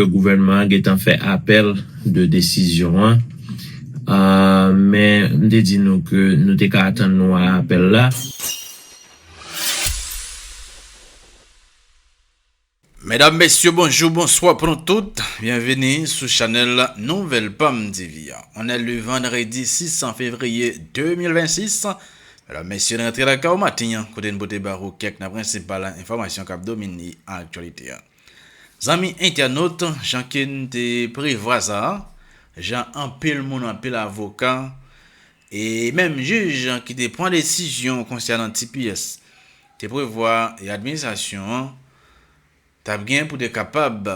Gouvènman an gentan fè apèl de desizyon an, men m te di nou ke nou te ka atann nou a apèl la. Medam mesye bonjou bonswa pou nou tout, byenvini sou chanèl Nouvèl PAMTV. On è le vandredi 6 fevriye 2026, medam mesye n rantre lakay ou maten an kote n pote ba ou kèk nan prensipal enfòmasyon k ap domine aktyalite an. Zanmi entènot, jan ke n te prevwa sa, jan anpil moun, anpil avoka, e menm jij ki te pran desizyon konsènan tps te prevwa e administrasyon an t ap gen pou te kapab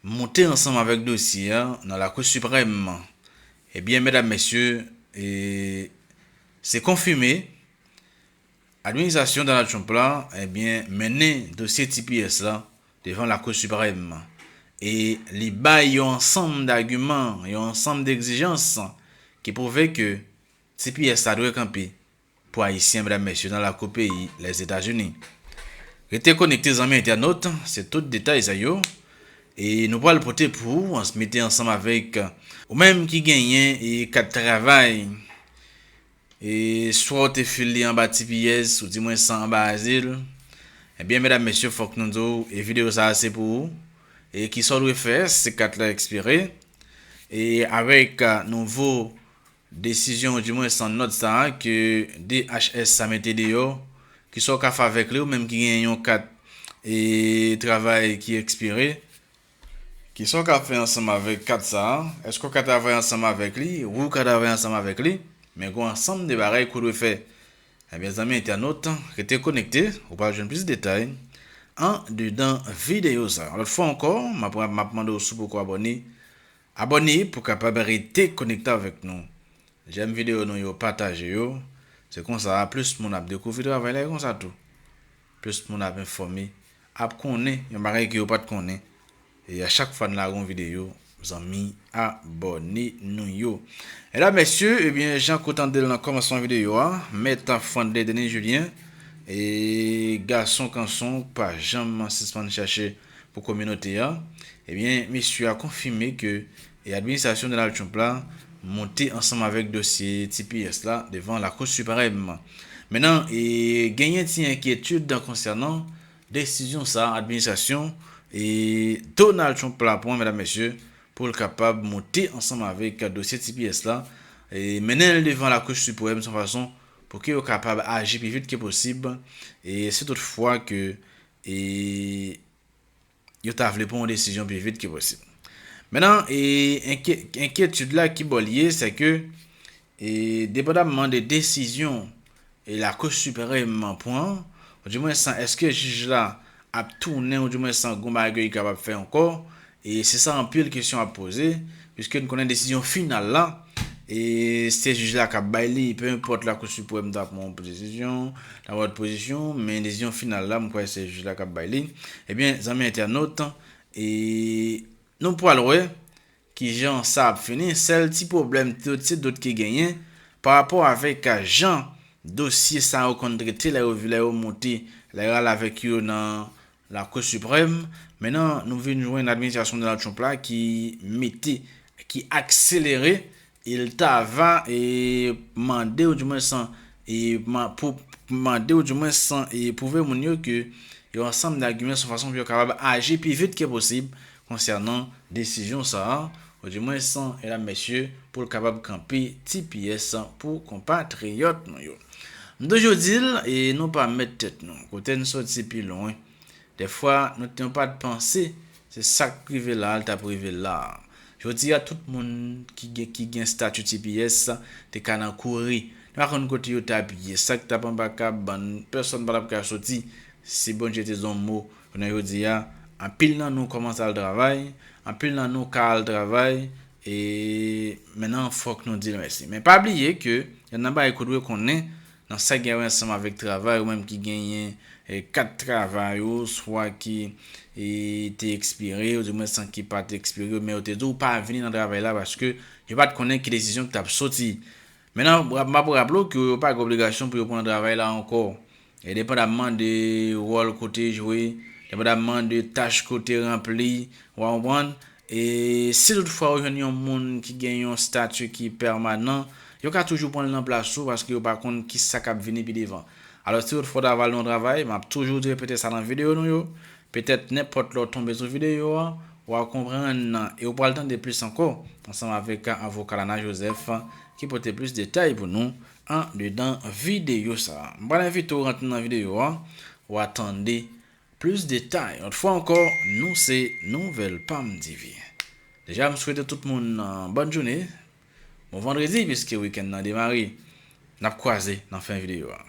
moute ansanm avèk dosye a nan Lakou Siprèm, ebyen medam mesye, e se konfime Administrasyon Donald Trump la ebyen mennen dosye tps la devan Lakou Siprèm e li bay yon ansanm dagiman, yon ansanm degzijans ki pwouve ke tps la dwe kanpe pou Ayisyen medam mesye nan lakou peyi Lèzetazini. Rete konekte zanmi entènot, se tout detay sa yo e nou pral pote pou ou ans mete ansanm avèk ou menm ki genyen kat travay. E swa w te fil li anba ti piyes, ou di mwen san anba azil. Ebyen medam mesye fok nou di w e video sa se pou ou. E kisa w dwe fè si kat la ekspire. E avek nouvo desizyon ou di mwen san not sa ke DHS sa mete deyo, kisa w ka fè avek li ou menm ki gen yon kat e travay ki ekspire. Kisa w ka fè ansanm avèk kat sa a? Èske w ka travay ansanm avèk li? Wi, w ka travay ansanm avèk li, men gen yon ansanm de bagay ke w dwe fè. Ebyen zanmi entènot, rete konekte, ou pral jwenn plis detay andedan videyo sa a. Yon lòt fwa ankò, m ap m ap mande w si w poko abòne, abòne pou w kapab rete konekte avèk nou. Jèm videyo nou yo, pataje yo, se konsa plis moun ap dekouvri travay la e konsa tou. Plis moun ap enfòme, ap konnen yon bagay ke yo pat konnen. E a chak fwa n lage yon videyo, zanmi abòne nou yo. Medam mesye, ebyen jan ke w tande l nan kòmansman videyo a, Mèt Franley Denis Julien, e gason kanson k pa janm sispann chache pou kominote a, ebyen mesye a konfime ke E administrasyon Donald Trump la monte ansanm avèk dosye tps la devan Lakou Siprèm. Men nan, e genyen ti enkyetid konsènan desizyon sa a administrasyon e Donald Trump la pran medam mesye pou l kapab monte ansanm avèk dosye tps la e mennen l devan Lakou Siprèm san fason pou ke yo kapab aji pi vit ke posib e si tout fwa ke e yo ta vle pran yon desizyon pi vit ke posib. Mennan, enkyetid la ki bò li ye, se ke depandamman de desizyon Lakou Siprèm an pran, ou di mwen san eske jij la ap tounen ou di mwen san gon bagay yo kapab fè ankò, se sa anpil kesyon ap poze, Piske n konnen desizyon final la, se jij la k ap bay li, pe enpòt Lakou Siprèm ta pran yon pozisyon, ta pran yon lòt pozisyon, men desizyon final la, m kwè se jij la k ap bay li. Ebyen, zanmi entènot, nou pral wè ki jan sa ap fini. Sèl ti pwoblèm se dout ki genyen pa rapò avèk jan dosye sa yo konn trete lè yo monte, lè yo ale avèk yo nan Lakou Siprèm, Menan nou vin jwenn administrasyon Donald Trump la ki mete, ki akselere, e l ta va e mande ou di mwen san e pou mande ou di mwen san e pwouve moun yo ke yon ansanm dagiman sou fason pou yo kapab aji pi vit ke posib konsènan desizyon sa a, ou di mwens, medam mesye, pou l kapab kanpe ti pyès pou konpa triyòt nou yo. M toujou di l, e nou pa mèt tèt nou, kote n soti pi lwen, dèfwa nou nou pa t panse se sa k rive la a l t ap rive la a. Jodi a tout moun ki gen ki gen stati ti pyès te ka nan kouri, nou pa konn kote yo t ap ye, sa k t ap anba kab ban n, pèsonn pa t ap ka soti, si Bondye te di yon mo, Jounen jodi a, anpil nan nou kòmanse al travay, anpil nan nou ka al travay, e men nan fòk nou di l mèsi. Men pa bliye ke gen nan bagay ke w dwe konnen nan sa ki gen wè ansanm avèk travay, ou menm ki genyen kat travay ou, swa ki te ekspire, ou di mwen san ki pa te ekspire, men yo te di w pa vini nan travay la paske yo pa t konnen ki desizyon ki t ap soti. Men nan, m ap raple w ke yo pa gen obligasyon pou yo pran travay la ankò. Endepandamman de wòl ke w te jwe, endepandamman de tach ke w te ranpli, wa konprann, e si tout fwa yo jwenn yon moun ki gen yon stati ki pèmanan, yo ka toujou pran l nan plas ou paske yo pa konn kisa k ap vini pi devan. Alò si tout fwa w ta vale yon travay, m ap toujou repete sa nan videyo nou yo, petèt nenpòt lè w tonbe sou videyo a, wa konprann e w pral tande plis ankò ansanm avèk avoka Lana Joseph ki pote plis detay pou nou Andedan videyo sa a. M pral envite w rantre nan videyo a, wa tande plis detay. Yon lòt fwa ankò, nou se Nouvèl Pam TV. Deja m swete tout moun bòn joune, bon vandredi piske wikenn nan demare. N ap kwaze nan fen videyo a.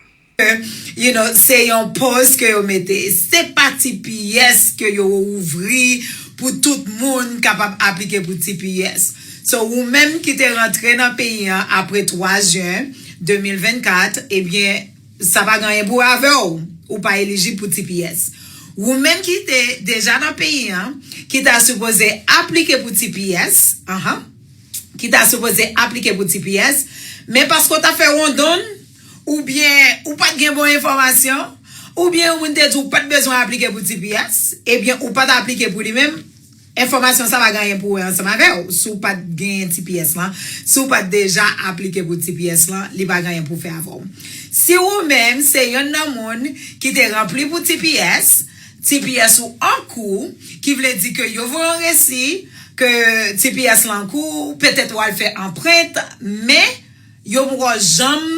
You know se yon poz ke yo mete. Se pa tps ke yo ouvri pou tout moun kapab aplike pou tps. So ou menm ki te rantre nan peyi an apre 3 jen 2024, ebyen sa pa gen anyen pou wè avè w, ou pa elijib pou tps. Ou menm ki te deja nan peyi an, ki ta sipoze aplike pou tps, ahan, ki ta sipoze aplike pou tps, men paske w t ap fè wondonn, oubyen ou pa t gen bon enfòmasyon, oubyen yon moun te di w pa t bezwen aplike pou tps, ebyen ou pa t aplike pou li menm, Enfòmasyon sa pa gen anyen pou wè ansanm avè w si w pa t genyen tps lan, si w pa t deja aplike pou tps lan, li pa gen anyen pou fè avè w. Si ou menm se yonn nan moun ki te ranpli pou tps, tps ou an kou, ki vle di ke yo voye yon resi ke tps lan an kou, petèt ou al fè anprent, men yo poko janm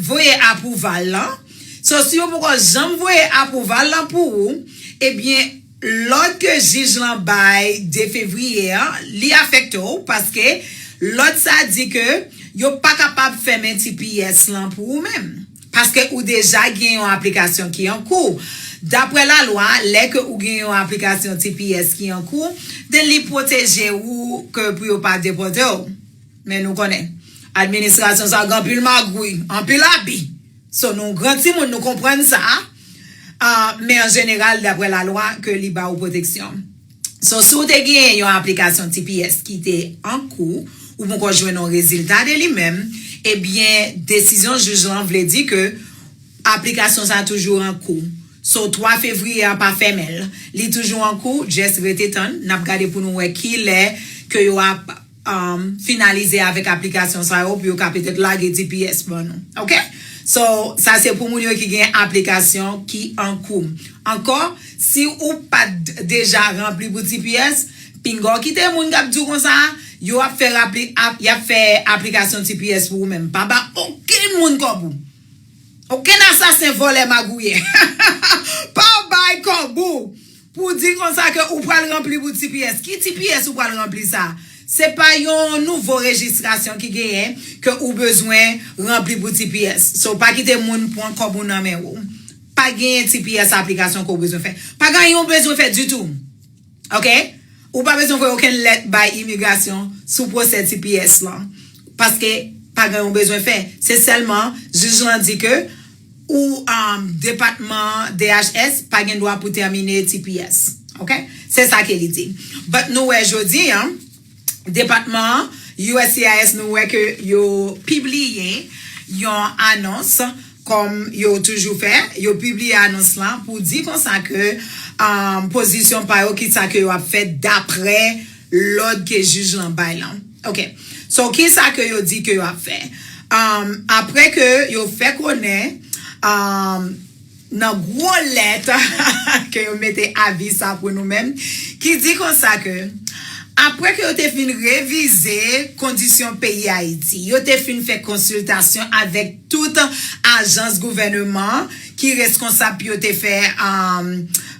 voye apwouval lan, so si yo poko janm voye apwouval lan pou ou, ebyen. Lòd ke jij lan bay 2 fevriye a, li afekte w paske lòd sa di ke yo pa kapab fèmen tps lan pou ou menm, paske ou deja gen yon aplikasyon ki an kou. Daprè lalwa, lè ke ou gen yon aplikasyon tps ki an kou, den li pwoteje ou ke pou yo pa depòte w. Men nou konnen, administrasyon sa gen anpil magouy, anpil abi. So nou gran timoun nou konprann sa men an jeneral daprè la lwa ke li ba ou pwoteksyon. So si ou te genyen yon aplikasyon tps ki te an kou ou ponkò jwenn yon rezilta de li menm ebyen desizyon jij lan vle di ke aplikasyon sa toujou an kou so 3 fevriye a pa fèmen l li toujou an kou just rete tann nap gade pou nou wè kilè ke yo ap finalize avèk aplikasyon sa yo pou yo ka petèt lage tps ban nou ok so sa se pou moun yo ki gen aplikasyon ki an kou ankò si ou pat deja ranpli pou tps pinga w kite moun kap di w konsa a yo ap fè rapli yap fè aplikasyon tps pou ou menm pa ba okenn moun kòb ou okenn asasen vòlè magouyè pa bay kòb ou. Pou w di konsa ke ou pral ranpli pou tps. Ki tps ou pral ranpli sa? Se pa yon nouvo rejistrasyon ki genyen ke ou bezwen ranpli pou tps. So pa kite moun pwan kòb ou nan men ou. Pa genyen tps aplikasyon ke w bezwen fè. Pa ganyen w bezwen fè ditou. Ok? Ou pa bezwen voye okenn lèt bay imigrasyon sou pwosè tps lan. Paske pa ganyen w bezwen fè. Se sèlman jij lan di ke. ou depatman DHS pa gen dwa pou tèmine tps ok se sa ke li di but nou wè jodi an depatman uscis nou wè ke yo pibliye yon anons kòm yo toujou fè yo pibliye anons lan pou di konsa ke pozisyon pa yo ki sa ke yo ap fè daprè lòd ke jij lan bay lan ok so kisa ke yo di ke yo ap fè um aprè ke yo fè konnen um nan gwo lèt hahaha ke yo mete avi sa pou nou menm ki di konsa ke aprè ke yo te fin revize kondisyon peyi ayiti yo te fin fè konsiltasyon avèk tout ajans gouvèneman ki reskonsab pou yo te fè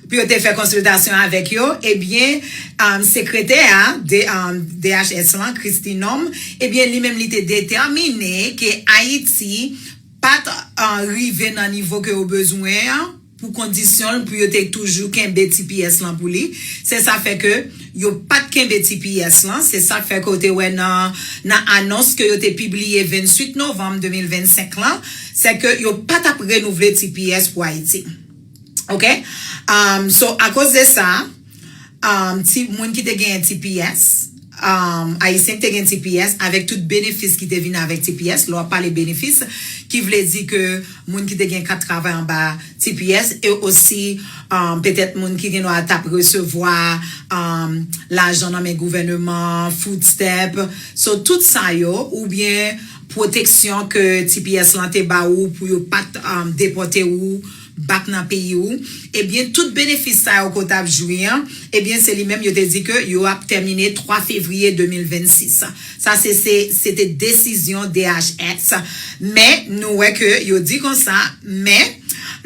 pou yo te fè konsiltasyon avèk yo, ebyen sekretè a DHS lan Kristi Nonm ebyen li menm li te detèmine ke Ayiti pat rive nan nivo ke yo bezwen an pou kondisyon l pou yo te toujou kenbe tps lan pou li, se sa fè ke. Yo pat kenbe tps lan, se sak fè ke w te wè nan nan anons ke yo te pibliye 28 novanm 2025 lan, se ke yo pa t ap renouvle tps pou Ayiti. Ok. Umm so akoz de sa, umm ti moun ki te genyen tps, umm Ayisyen ki te gen tps avèk tout benefis ki te vin avèk tps, lè w ap pale benefis ki vle di ke, moun ki te gen kat travay anba tps e osi petèt moun ki gen dwa tap resevwa lajan nan men gouvèneman an, food stamp, so tout sa yo oubyen pwoteksyon ke tps lan te ba ou pou yo pat depòte ou bak nan peyi ou, ebyen tout benefis sa yo ke w tap jwi an, ebyen se li menm yo te di ke yo ap tèmine 3 fevriye 2026. Sa se se se te desizyon DHS, men nou wè ke yo di konsa, men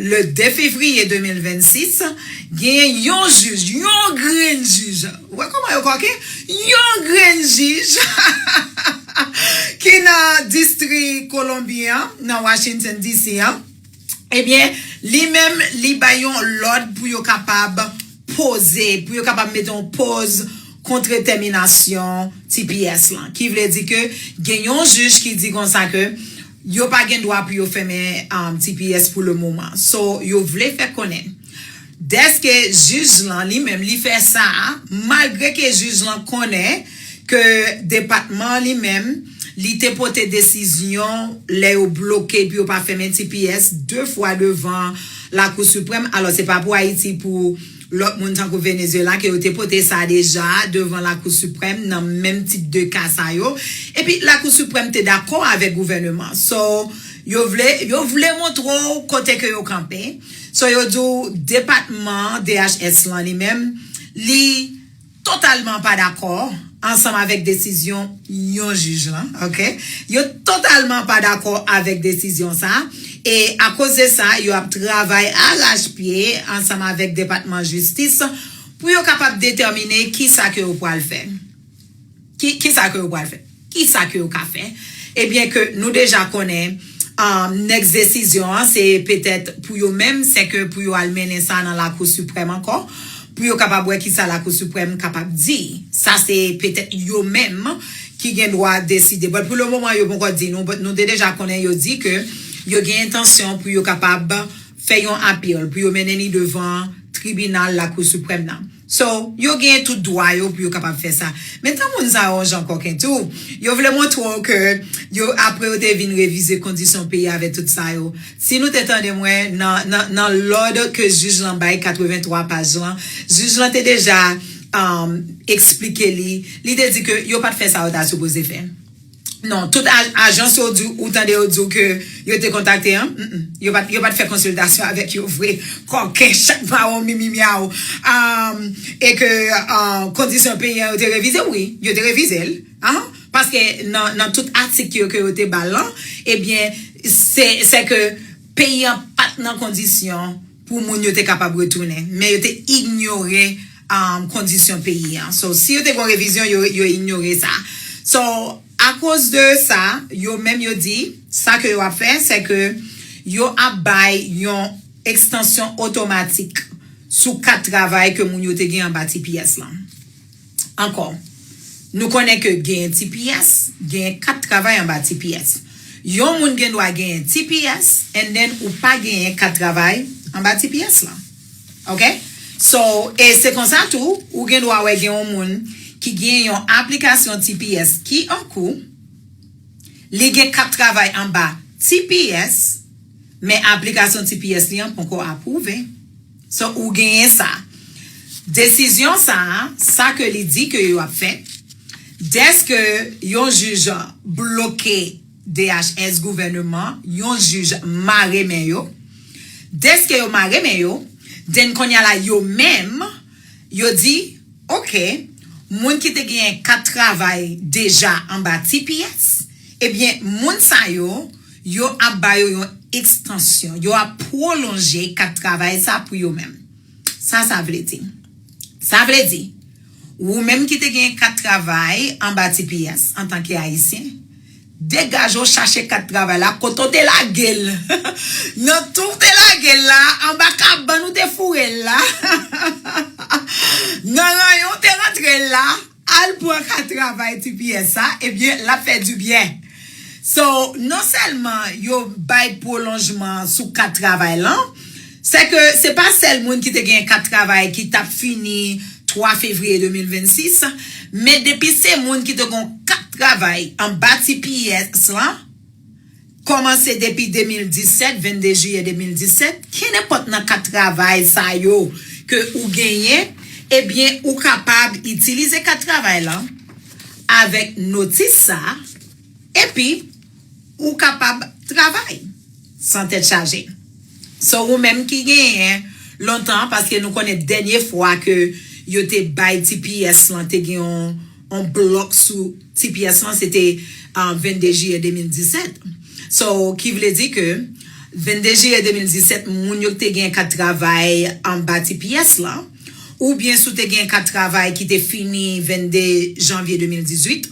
le 2 fevriye 2026, genyen yon jij, yon grenn jij, ou wè kòman yo kòken, yon grenn jij ki nan distri Kolonbi an, nan Washington DC an, Ebyen, li menm li bay yon lòd pou yo kapab poze, pou yo kapab mete yon pòz kontre tèminasyon tps lan. Ki vle di ke gen yon jij ki di konsa ke yo pa gen dwa pou yo fèmen tps pou le moman. So, yo vle fè konnen. Dèske jij lan li menm li fè sa a, malgre ke jij lan konnen ke depatman an li menm li te pote desizyon lè yo bloke epi yo pa fèmen tps 2 fwa devan Lakou Siprèm, alò se pa pou Ayiti pou lòt moun tankou Venezyela ke yo te pote sa deja devan Lakou Siprèm nan menm tip de ka sa yo. Epi Lakou Siprèm te dakò avèk gouvèneman. So, yo vle yo vle montre w kote ke yo kanpe. So yo di w depatman DHS lan li menm li totalman pa dakò ansanm avèk desizyon yon jij lan ok yo totalman pa dakò avèk desizyon sa e akoz de sa yo ap travay arach pye ansanm avèk depatman jistis pou yo kapab detèmine kisa ke yo pwal fè. Ki sa ke yo pral fè? Ki sa ke yo ka fè? E byen ke nou deja konnen next desizyon an se petèt pou yo menm se ke pou yo al mennen sa nan lakou siprèm ankò pou yo kapab wè ki sa lakou siprèm kapab di. Sa se petèt yo menm ki gen dwa deside. But pou le moman yo ponkò di nou but nou te deja konnen yo di ke yo gen entansyon pou yo kapab fè yon appeal pou yo mennen li devan tribinal lakou siprèm nan. So, yo genyen tout dwa yo pou yo kapab fè sa. Men tan moun sa yo yon jan kòken tou, yo vle montre w ke yo, apre yo te vin revize kondisyon peyi avè tout sa yo. Si nou te tande mwen, nan lòd ke jij lan bay 83 paj lan, jij lan te deja eksplike li, li te di ke yo pa t fè sa yo ta sipoze fè. Non, tout ajans yo di ou tande yo di ou ke yo te kontakte an, m m, yo pa yo pa t fè konsiltasyon avèk yo vre, kòken chat mawon mimi myaw, amm, e ke kondisyon peyi an yo te revize, wi, yo te revize l, anh, paske nan nan tout atik yo ke yo te ba l lan, ebyen se se ke peyi an pa t nan kondisyon. pou moun yo te kapab retounen men yo te ignore kondisyon peyi an so si yo te gon revizyon yo ignore sa so akoz de sa yo menm yo di sa ke yo ap fè se ke yo ap bay yon ekstansyon otomatik sou kat travay ke moun yo te gen anba tps lan. Ankò, nou konnen ke genyen tps, genyen kat travay anba tps. Yon moun gen dwa genyen tps and then ou pa genyen kat travay anba tps lan. Ok? So, e se konsa tou, ou gen dwa wè gen yon moun ki genyen yon aplikasyon tps ki an kou, li gen kat travay anba tps, men aplikasyon tps li an ponkò apwouve. So ou genyen sa. Desizyon sa a, sa ke li di ke yo ap fè, dèske yon jij bloke DHS gouvèneman, yon jij mare men yo, dèske yo mare men yo, den konnya la yo menm, yo di. Ok, moun ki te genyen kat travay deja anba tps, ebyen moun sa yo, yo ap ba yo yon ekstansyon, yo ap pwolonje kat travay sa pou yo menm. Sa sa vle di? Sa vle di, ou menm ki te genyen kat travay anba tps antanke Ayisyen, Degaj ou chache kat travay la kote ou te lagel nan tou ou te lagel la anba kabann ou te fourel la nan ranyon ou te rantrel la al pran kat travay tps sa ebyen lap fè du byen so non sèlman yo bay pwolonjman sou kat travay lan Sè ke se pa sèl moun ki te gen kat travay ki t ap fini 3 fevriye 2026, men depi se moun ki te gen yon kat travay anba tps lan, kòmanse depi 2017, 22 jiyè 2017, kenenpòt nan kat travay sa yo ke ou genyen, ebyen ou kapab itilize kat travay lan avèk notis sa a, epi. ou kapab travay san tèt chaje so ou menm ki genyen lontan paske nou konnen dènye fwa ke yo te bay tps lan te gen yon blòk sou tps lan se te 22 jiyè 2017 so ki vle di ke 22 jiyè 2017 moun yo ki te gen kat travay anba tps lan oubyen si w te gen kat travay ki te fini 22 janvye 2018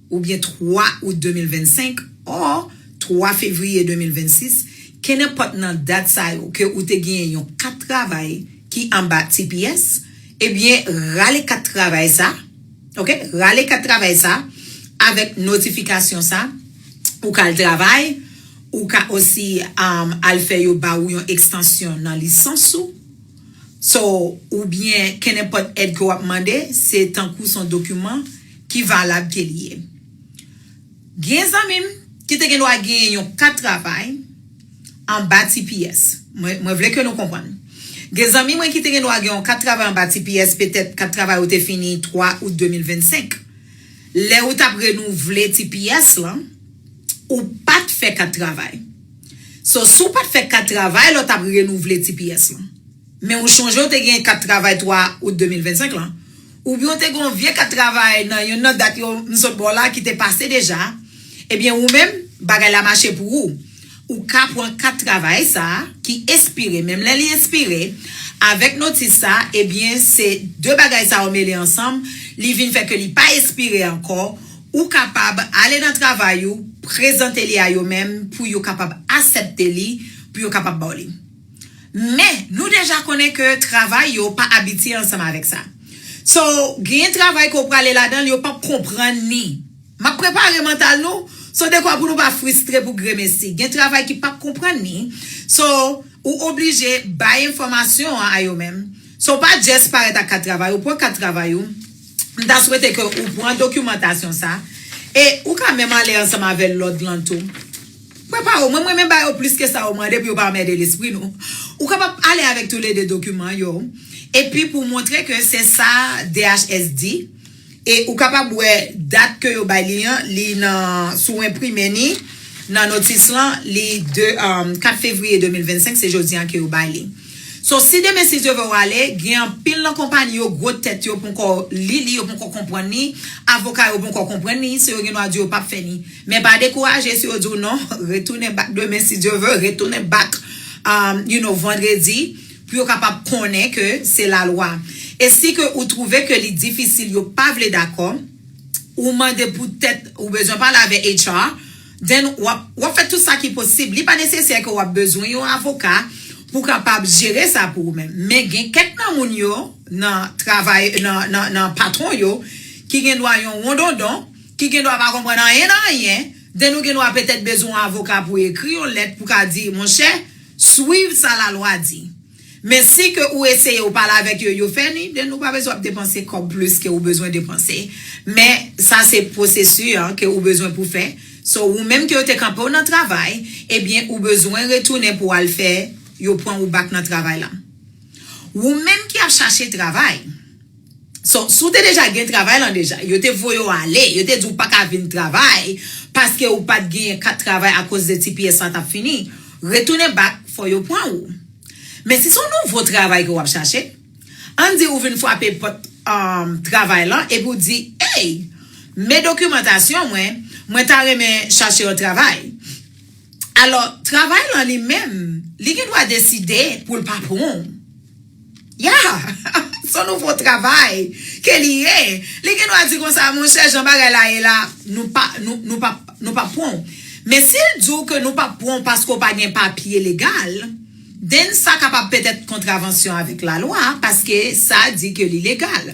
oubyen 3 out 2025 or 3 fevriye 2026, kenenpòt nan dat sa yo ke ou te genyen yon kat travay ki anba tps, ebyen rale kat travay sa, ok, rale kat travay sa avèk notifikasyon sa, ou ka al travay, ou ka osi al fè yo ba ou yon ekstansyon nan lisans ou. So, ou byen kenenpòt èd ke w ap mande, se tankou son dokiman ki valab ke li ye. Gen zanmi m ki te gendwa genyen yon kat travay anba tps. Mwen, mwen vle ke nou konprann. Gen zanmi mwen ki te gendwa gen yon kat travay anba tps, petèt kat travay ou te fini 3 out 2025. Lè ou t ap renouvle tps lan. Ou pat fè kat travay. So si w pat fè kat travay la w t ap renouvle tps lan. Men ou chonje w te gen kat travay 3 out 2025 lan. Oubyen w te gen yon vye kat travay nan yonn nan dat yo m sot ba w la ki te pase deja. Ebyen ou menm bagay la mache pou ou. Ou ka pran kat travay sa a ki espire menm lè li espire, avèk notis sa a, ebyen se 2 bagay sa yo mele ansanm, li vin fè ke li pa espire ankò, ou kapab ale nan travay ou, prezante li a yo menm pou yo kapab asèpte li, pou yo kapab ba w li. Men, nou deja konnen ke travay yo pa abitye ansanm avèk sa. So, genyen travay ke w prale ladan l, yo p ap konprann ni. M ap prepare mantal nou so dekwa pou nou pa fristre pou gremesi. Gen travay ki p ap konprann ni so ou oblije bay enfòmasyon an a yo menm. So pa just parèt ak kat travay ou, pran kat travay ou, m ta swete ke ou pran dokimantasyon sa e ou ka menm ale ansanm avè lòd lan tou. Prepare w, mwen m renmen ba yo plis ke sa yo mande pou yo pa anmède lespri nou. Ou kapab ale avèk toulede dokiman yo epi pou w montre ke se sa DHS di. E ou kapab wè dat ke yo bay li an, li nan, si w enprime ni, nan notis lan, li 2, 4 fevriye 2025, se jodi an ke yo bay li. So, si demen si Dye vè w ale, gen anpil nan konpayi yo gwo tèt yo ponkò li li, yo ponkò konprann li, avoka yo ponkò konprann li, si yo gen dwa di yo pap fè ni. Men pa dekouraje si yo di w non, retounen bak demen si Dye vè, retounen bak, you know, vandredi, pou yo kapab konnen ke se lalwa e si ke ou trouve ke li difisil yo pa vle dakò ou mande pou tèt ou bezwen pale avè HR then wap wap fè tout sa ki posib li pa nesesè ke wap bezwen yon avoka pou kapab jere sa pou ou menm men gen kèk nan moun yo nan travay nan nan nan patron yo ki gen dwa yon wondondon ki gen dwa pa konprann anyen nan anyen then ou gen dwa petèt bezwen yon avoka pou ekri yon lèt pou ka di monchè. Swiv sa la lwa di. Men si ke ou eseye ou pale avèk yo, yo fè ni, den ou pa bezwen ap depanse kòb plis ke ou bezwen depanse. Men sa se pwosesu an ke ou bezwen pou fè. So ou menm ke yo te kanpe ou nan travay, ebyen ou bezwen retounen pou al fè yo pran ou back nan travay lan. Ou menm ki ap chache travay. So, si w te deja gen travay lan deja, yo te voye w ale, yo te di w pa ka vin travay paske ou pat genyen kat travay akoz de tps la tap fini, retounen bak fò yo pran ou. Men si se yon nouvo travay ke w ap chache, ann di ou vin frape pòt travay lan epi w di, Ey! Men dokimantasyon mwen, mwen ta renmen chache yon travay. Alò, travay lan li menm, li gen dwa deside pou l pa pran w. Yah! Son nouvo travay ke li ye. Li gen dwa di konsa, monchè jan bagay la ye la, nou pa, nou, nou pap, nou pap pran w. Men si l di w ke nou pap pran w paske w pa gen papye legal, then sa kapab petèt kontravansyon avèk lalwa paske sa di ke li legal.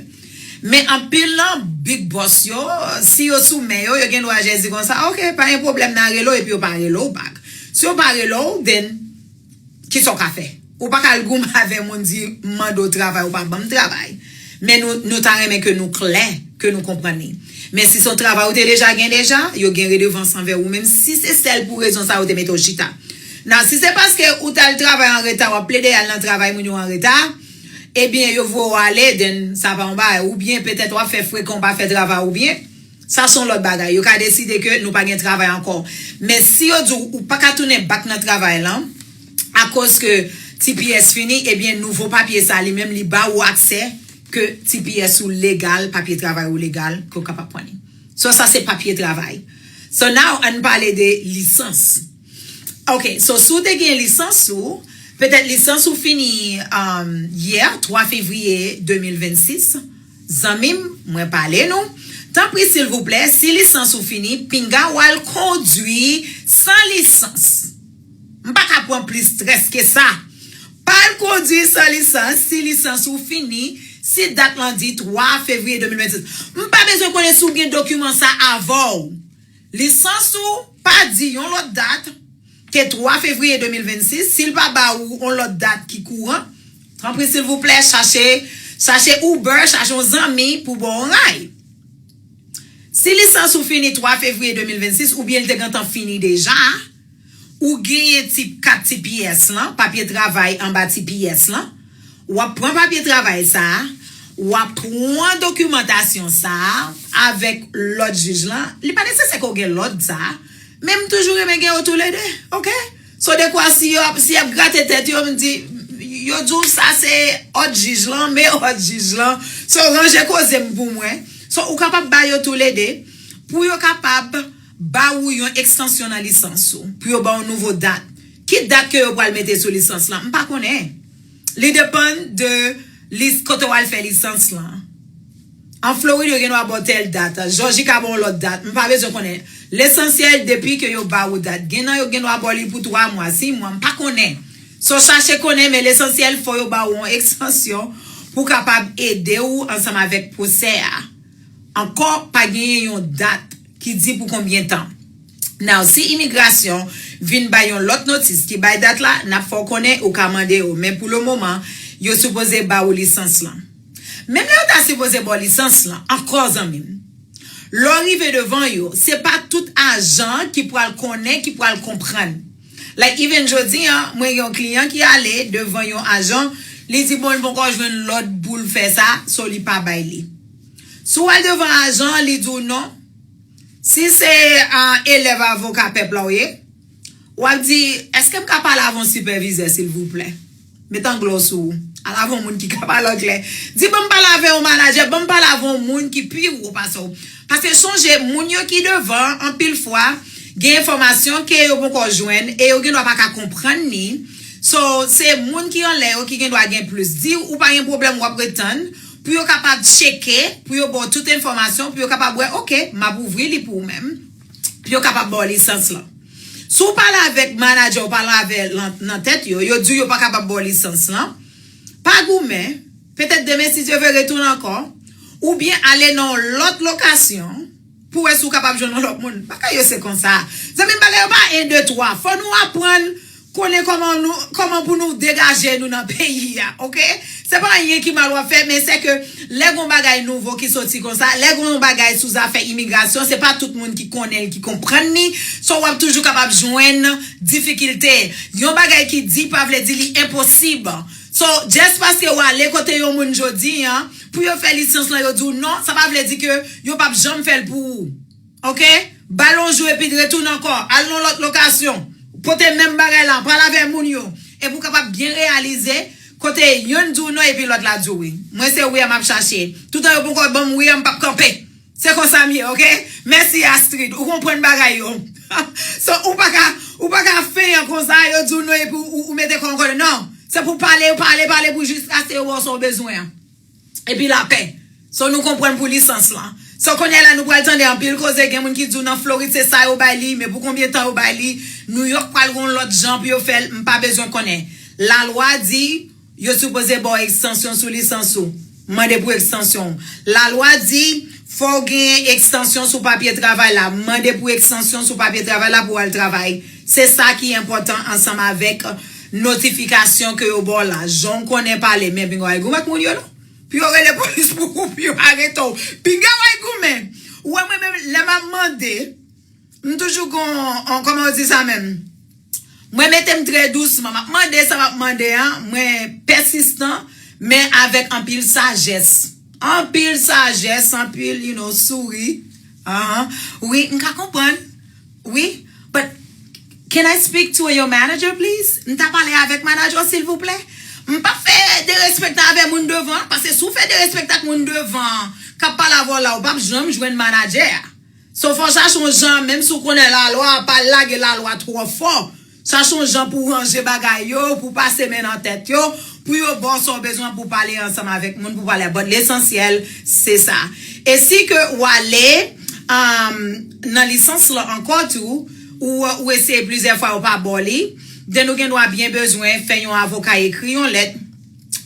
Men anpil nan big boss yo, si yo sou men yo, yo gen dwa jès di konsa, ok, pa gen pwoblèm nan rele w epi yo pa rele w back. Si yo pa rele w, then. Kisa w ka fè? Ou pa ka al goumen avè moun di m mande w travay ou pa ban m travay. Men nou nou ta renmen ke nou klè, ke nou konprann li. Men si se yon travay ou te deja gen deja, yo gen redevans anvè ou menm si se sèl pou rezon sa yo te mete w chita. Nan si se paske ou t al travay an reta w ap plede al nan travay moun yo an reta, ebyen yo voye w ale then sa pa yon bagay. Oubyen petèt w ap fè frekan ou pa fè travay ou byen. Sa son lòt bagay. Yo ka deside ke nou pa gen travay ankò. Men si yo di'w ou paka tounen back nan travay lan, akoz ke tps fini, ebyen nouvo papye sa li menm li ba ou aksè ke tps ou legal, papye travay ou legal, ke ou kapab pran li. So sa se papye travay. So now ann pale de lisans. Ok, so si w te gen lisans ou, petèt lisans ou fini yè, 3 fevriye 2026. Zanmim mwen pale nou tanpri silvouplè si lisans ou fini pinga wal kondwi san lisans m paka pran plis strès ke sa pa al kondwi san lisans si lisans ou fini si dat lan di 3 fevriye 2026 m pa bezwen konnen si w gen dokiman sa avèw Lisans ou pa di yon lòt dat ke 3 fevriye 2026, si l pa ba ou yon lòt dat ki kouran, tanpri silvouplè chache chache Uber, chache yon zanmi pou ba w yon ray. Si lisans ou fini 3 fevriye 2026 oubyen li te gentan fini deja, Ou genyen tip 4 ti pyès lan, papye travay anba ti pyès lan. W ap pran papye travay sa a, w ap pran dokimantasyon sa a avèk lòd jij lan. Li pa nesesè ke w gen lòd sa a, men m toujou renmen gen yo toulede, oke. So dekwa si yo ap, si y ap grate tèt yo, m di, yo di w sa se òd jij lan, men òd jij lan. So ranje koze m pou mwen. So ou kapab ba yo toulede pou yo kapab. ba ou yon ekstansyon nan lisans ou pou yo ba w nouvo dat ki dat ke yo pral mete sou lisans lan m pa konnen li depann de lis kote w al fè lisans lan an Florid yo gen dwa ba w tèl dat Jòji ka ba w lòt dat m pa bezwen konnen lesansyèl depi ke yo ba ou dat gen nan yo gen dwa ba w li pou 3 mwa 6 mwa m pa konnen sa w chache konnen men lesansyèl fò yo ba ou yon ekstansyon pou kapab ede ou ansanm avèk pwosè a ankò pa genyen yon dat. ki di pou konbyen tan. Now si imigrasyon vin bay yon lòt notis ki bay dat la nap fè w konnen ou ka mande yo men pou le moman yo sipoze ba ou lisans lan menm lè yo ta sipoze ba w lisans lan ankò zanmi m lè w rive devan yo se pa tout ajan ki pral konnen ki pral konprann like even jodi an mwen gen yon kliyan ki ale devan yon ajan li di bon li ponkò jwenn lòd pou l fè sa so li pa bay li. Si w al devan ajan an, li di w non. Si se elèv avoka pèp la w ye, w ap di, Èske m ka pale avon sipèvizè, silvouplè? Met anglè w sou ou. Al avon moun ki ka pale anglè. Di, Ban m pale avè yon manajè, ban m pale avon moun ki pi wo pase w. Paske sonje, moun yo ki devan an, anpil fwa, gen enfòmasyon ke yo ponkò jwenn e yo gendwa pa ka konprann ni. So, se moun ki anlè yo ki gendwa gen plis. Di, Ou pa gen pwoblèm, w ap ret tann. Pou yo kapab tcheke, pou yo ba w tout enfòmasyon, pou yo kapab wè, ok, m ap ouvri li pou ou menm, pou yo kapab ba w lisans lan. Si w pale avèk manadjè w, pale avè nan tèt yo, yo di w yo pa kapab ba w lisans lan, pa goumen, petèt demen si Dye vle retounen ankò, oubyen ale nan yon lòt lokasyon, Pou wè si w kapab jwenn yon lòt moun. Bagay yo se konsa. Zanmi m bagay yo pa 1 2 3. Fò nou aprann konnen kòman nou kòman pou nou degaje nou nan peyi a ok. Se pa anyen ki mal w ap fè men se ke lè gon bagay nouvo ki soti konsa lè gon bagay sou zafè imigrasyon se pa tout moun ki konnen l ki konprann li so w ap toujou kapab jwenn difikilte. Yon bagay ki di pa vle di li enposib so just paske w ale kote yon moun jodi an Pou yo fè lisans lan yo di w non, sa pa vle di ke yo pap janm fè l pou ou. Ok. Ba l yon jou epi retounen ankò. Al nan yon lòt lokasyon. Pote menm bagay lan. Pale avè moun yo. Epi w kapab byen reyalize kote yonn di w non epi lòt la di w wi. Mwen se wi a m ap chache. Toutan yo ponkò ban m wi a m pap kanpe. Se konsa m ye ok. Mèsi Astrid ou konprann bagay yo so ou paka ou paka feian konsa yo diw non epi ou mete kòw ankòlè nan se pou pale pale pale pou jiskaske yo baw sa ou bezwen an epi lapè so nou konprann pou lisans lan so kounyè la nou pral tande anpil koze gen moun ki diw nan Florid se sa yo bay li men pou konbyen tan yo bay li Nouyòk pral gon lòt jan pou yo fèl m pa bezwen konnen lalwa di Yo sipoze baw ekstansyon sou lisans ou. Mande pou ekstansyon ou. La lwa di fòw genyen ekstansyon sou papye travay la. Mande pou ekstansyon sou papye travay la pou al travay. Se sa ki enpòtan ansanm avèk notifikasyon ke yo baw la. Jan ou konnen pale men pinga w al goumen ak moun yo non. Pou yo rele polis pou ou pou yo arete w. Pinga w al goumen. Ou wè mwen menm lè map mande. M toujou gon koman yo di sa menm mwen mete m trè dousman map mande sa map mande an mwen pèsistan men avèk anpil sajès anpil sajès anpil you know souri ahan wi m ka konprann wi but can I speak to your manager please m ta pale avèk manager w silvouplè m pap fè derespektan avè moun devan paske si w fè derespektan ak moun devan kap pale avè w la ou pap janm jwenn manager a. Sofò chache yon jan menm si w konnen lalwa pa lage lalwa twò fò chache yon jan pou w ranje bagay yo pou w pase men nan tèt yo pou yo ba w sa w bezwen pou w pale ansanm avèk moun pou w pale bon lesansyèl se sa e si ke w ale nan lisans lan ankò tou ou eseye plizyè fwa yo pa ba w li den ou gen dwa byen bezwen fè yon avoka ekri yon lèt.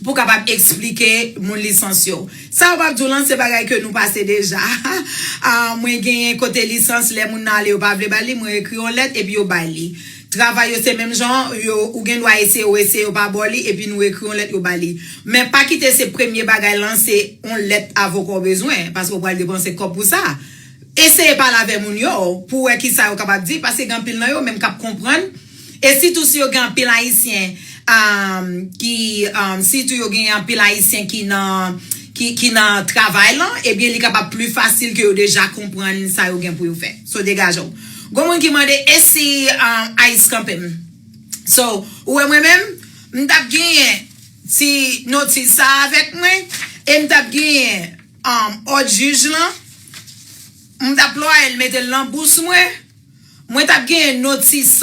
pou kapab eksplike moun lisans yo. Sa yo pap di w lan se bagay ke nou pase deja. Mwen genyen kote lisans lè moun nan ale yo pa vle ba li, mwen ekri yon lèt epi yo bay li. Travay yo se menm jan an, yo ou gen dwa eseye ou eseye yo pa ba w li epi nou ekri yon lèt yo ba li. Men pa kite se premye bagay lan se yon lèt avoka w bezwen paske ou pral depanse kòb pou sa. Eseye pale avè moun yo pou wè kisa yo kapab di paske gen anpil nan yo menm kap konprann. E sitou si yo gen anpil ayisyen ki sitou yo gen anpil ayisyen ki nan ki nan travay lan ebyen li kapab pli fasil ke yo deja konprann sa yo gen pou yo fè so degaje w gon moun ki mande e si ice kanpe m so ou wè mwen menm m t ap genyen ti notis sa avèk mwen e m t ap genyen òd jij lan m t ap plwaye l mete l nan bous mwen. Mwen tap genyen notis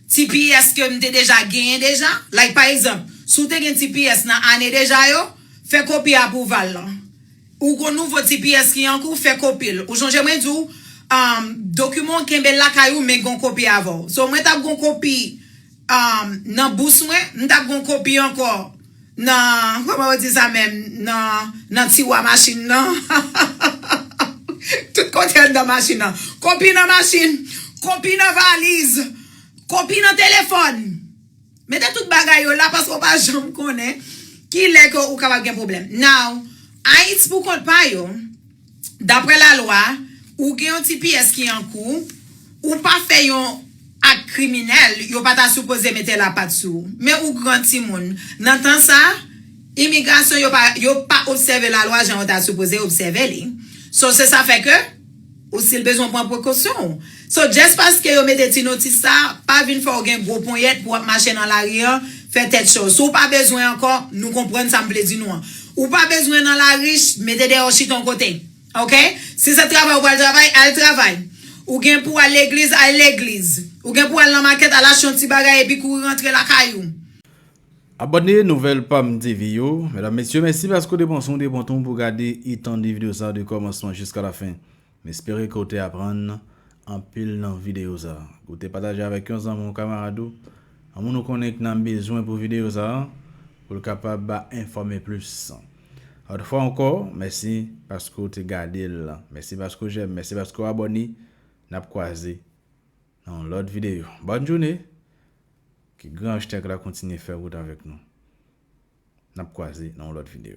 tps ke m te deja genyen deja, like pa egzanp, si w te gen tps nan ane deja yo, fè kopi apwouval lan. Ou gon nouvo tps ki an kou, fè kopi l. Ou sonje mwen di w, dokiman w kenbe l lakay ou men gon kopi avè w. So mwen tap gon kopi. nan bous mwen, m tap gon kopi ankò nan kòman yo di sa menm nan nan tiwa machin nan tout kote anndan machin nan kopi nan machin kopi nan valiz kopi nan telefòn mete tout bagay yo la paske ou pa janm konnen kilè ke ou kapab gen pwoblèm now Ayiti pou kont pa yo. Dapre lalwa, ou gen yon ti pyès ki an kou, ou pa fè yon ak kriminèl, yo pa ta sipoze mete lapat sou ou. Men ou gran timoun. Nan tan sa, imigrasyon yo pa, yo pa obsève lalwa jan yo ta sipoze obsève li. So, se sa fè ke, ou sil bezwen pran prekosyon ou. So just paske yo mete ti notis sa, pa vin fè w gen gwo ponyèt pou w ap mache nan lari an, fè tèt cho. Si w pa bezwen ankò, nou konprann sa m vle di nou an. Ou pa bezwen nan lari, mete dèyè w chita yon kote. Ok? Si se travay ou pral travay, al travay. Ou gen pou w al legliz, al legliz. Ou gen pou w al nan makèt, al achte yon ti bagay epi kouri rantre lakay ou. Abòne Nouvèl Pam TV yo. Medam, Mesye, mèsi paske w te pran son w te pran tan w pou w gade e tande videyo sa a de kòmansman jiska lafen. M espere ke w te aprann anpil nan videyo sa a. Ou te pataje avèk yon zanmi w, kamarad ou, yon moun ou konnen ki nan bezwen pou videyo sa a, pou l kapab ba enfòme plis. Yon fwa ankò, mèsi paske w te gade l, mèsi paske w jèm, mèsi paske w abòne. N ap kwaze nan yon lòt videyo. Bòn joune! Ke Gran Achtèk la kontinye fè wout avèk nou. N ap kwaze nan yon lòt videyo.